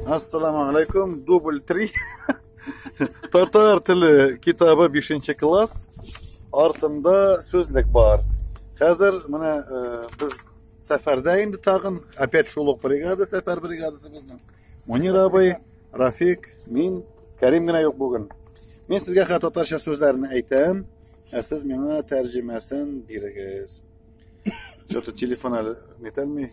Ассаламу алейкум, дубль 3. Татар теле китабы 5 класс. Артында сүзлек бар. Хәзер менә э, без сәфәрдә инде тагын, опять шул ук бригада, сәфәр бригадасы безнең. Мунир абый, Рафик, мин, Кәрим генә юк бүген. Мин сезгә хәтта татарча сүзләрне әйтәм, ә сез миңа тәрҗемәсен бирегез. Что-то телефон әле нетәлми.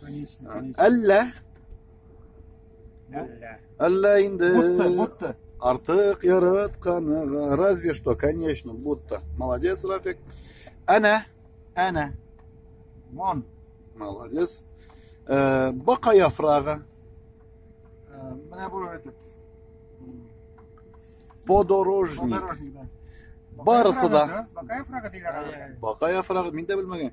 Конечно, А, конечно. Әллә? Әллә. Әллә инде. Будто, будто. Артык яратканыга. Разве что, конечно, будто. Молодец, Рафик. Әнә, әнә. Вон. Молодец. Э, Бака яфрагы. Э, Менә бу этот. м, Подорожник. Подорожник, да. Барысы да. Бакаев рага диләр. Бака яфрагы. Мин дә белмәгән.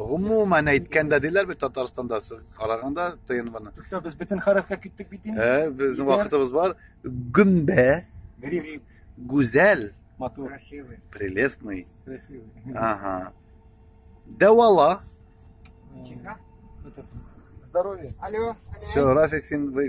Гомумән әйткәндә диләр бит Татарстанда караганда ТНВны. Тукта без бөтен хәрәфкә киттек бит инде. Ә, безнең вакытыбыз бар. Гөмбә. Гриф. Гүзәл. Матур. Красивый. Прелестный. Красивый. Ага. Дәвала. Э, Здоровье. Алло. Все, Рафик син выиграл.